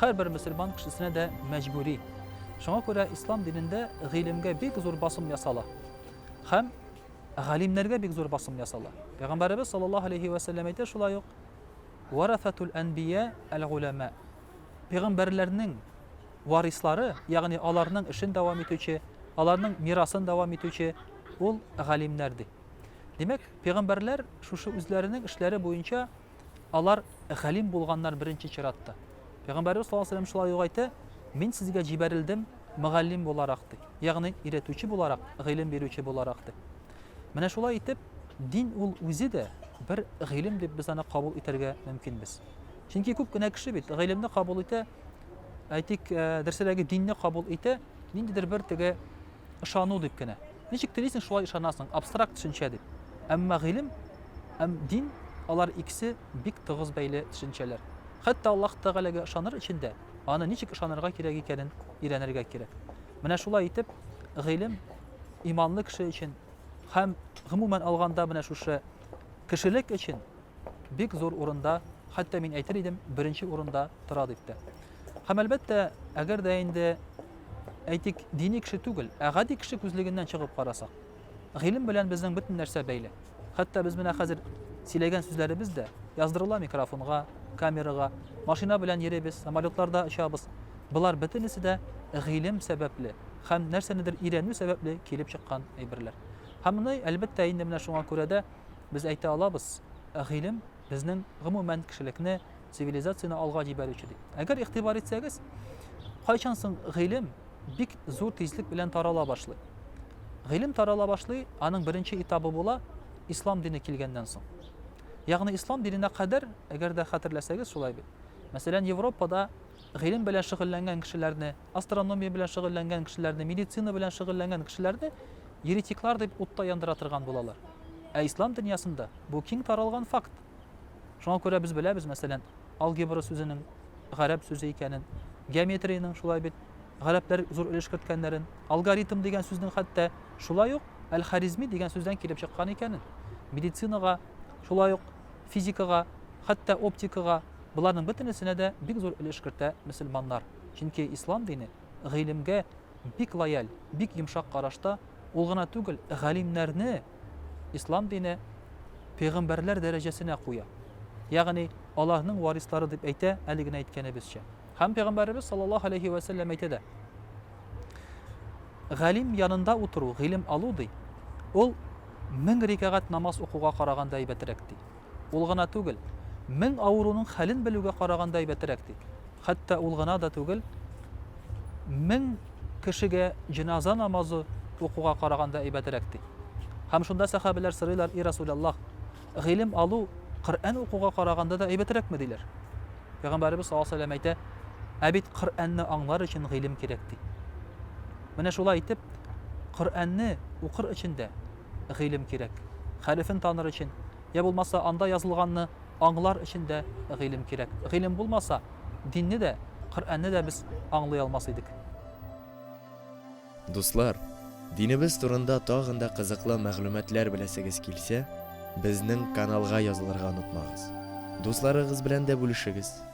Һәрбер мөселман кешесенә дә мәҗбүри. Шуңа күрә ислам динендә гыйлемгә бик зур басым ясала. Һәм галимнәргә бик зур басым ясала. Пәйгамбәребез саллаллаһу алейһи вә сәлләм әйтә шулай ук: "Варафатул әнбия әл-гулама". Пәйгамбәрләрнең варислары, ягъни аларның эшен дәвам итүче, аларның мирасын дәвам итүче ул галимнәр ди. Димәк, пәйгамбәрләр шушы үзләренең эшләре буенча Алар галим булганнар беренче чиратта. Пәйгамбәребез саллаллаһу алейһи вә сәлләм шулай ук әйтә, Мин сезгә җибәрелдем мөгаллим буларак, ди. Ягъни өйрәтүче буларак, гыйлем бирүче буларак, ди. Менә шулай итеп, дин ул үзе дә бер гыйлем дип без аны кабул итәргә мөмкинбез. Чөнки күп кенә кеше бит гыйлемне кабул итә, әйтик, э, дөресрәге динне кабул итә, ниндидер бер теге ышану дип кенә. Ничек телисең, шулай ышанасың, абстракт төшенчә дип. Әмма гыйлем һәм дин, алар икесе бик тыгыз бәйле төшенчәләр. Хәтта Аллаһ Тәгаләгә ышаныр өчен дә, аны ничек ышанырга кирәк икәнен өйрәнергә кирәк. Менә шулай итеп, гыйлем иманлы кеше өчен һәм, гомумән алганда, менә шушы кешелек өчен бик зур урында, хәтта мин әйтер идем, беренче урында тора дип тә. Һәм, әлбәттә, әгәр дә инде, әйтик, дини кеше түгел, ә гади кеше күзлегеннән чыгып карасак, гыйлем белән безнең бөтен нәрсә бәйле. Хәтта без менә хәзер сөйләгән сүзләребез дә яздырыла микрофонга, камерага, машина белән йөрибез, самолетларда очабыз. Болар бөтенесе дә гыйлем сәбәпле һәм нәрсәнедер өйрәнү сәбәпле килеп чыккан әйберләр. Һәм моны, әлбәттә, инде менә шуңа күрә дә без әйтә алабыз, гыйлем безнең, гомумән, кешелекне, цивилизацияне алга җибәрүче дип. Әгәр игътибар итсәгез, кайчан соң гыйлем бик зур тизлек белән тарала башлый. Гыйлем тарала башлый, аның беренче этабы була ислам дине килгәннән соң. Ягъни ислам диненә кадәр, әгәр дә хәтерләсәгез, шулай бит. Мәсәлән, Европада гыйлем белән шөгыльләнгән кешеләрне Астрономия белән шөгыльләнгән кешеләрне, медицина белән шөгыльләнгән кешеләрне еретиклар дип утта яндыра торган булалар. Ә ислам дөньясында бу киң таралган факт. Шуңа күрә без беләбез, мәсәлән, алгебра сүзенең гарәп сүзе икәнен, геометриянең шулай бит гарәпләр зур өлеш керткәннәрен, алгоритм дигән сүзнең хәтта шулай ук әл-Харизми дигән сүздән килеп чыккан икәнен, медицинага, шулай ук физикага, хәтта оптикага, боларның бөтенесенә дә бик зур өлеш кертә мөселманнар. Чөнки ислам дине гыйлемгә бик лояль, бик йомшак карашта, ул гына түгел, галимнәрне ислам дине пәйгамбәрләр дәрәҗәсенә куя. Ягъни, аларның варислары дип әйтә, әле генә әйткәнебезчә. Һәм пәйгамбәребез саллаллаһу алейһи вә сәлләм әйтә дә, Галим янында утыру, гыйлем алу, ди, ул мең рикәгать намаз укуга караганда әйбәтрәк, ди. Ул гына түгел, мең авыруның хәлен белүгә караганда әйбәтерәк, ди. Хәтта ул гына да түгел, мең кешегә җеназа намазы укуга караганда әйбәтерәк, ди. Һәм шунда сәхабәләр сорыйлар, И Расуләллаһ, гыйлем алу Коръән укуга караганда да әйбәтерәкме? диләр. Пәйгамбәребез саллаллаһу алейһи ва сәлләм әйтә, Ә бит Коръәнне аңлар өчен гыйлем кирәк, ди. Менә шулай итеп, Коръәнне укыр өчен дә, гыйлем кирәк. Хәрефен таныр өчен, йә булмаса анда язылганны аңлар өчен дә гыйлем кирәк. Гыйлем булмаса, динне дә, Коръәнне дә без аңлый алмас идек. Дуслар, динебез турында тагын да кызыклы мәгълүматлар беләсегез килсә, безнең каналга язылырга онытмагыз. Дусларыгыз белән дә бүлешегез.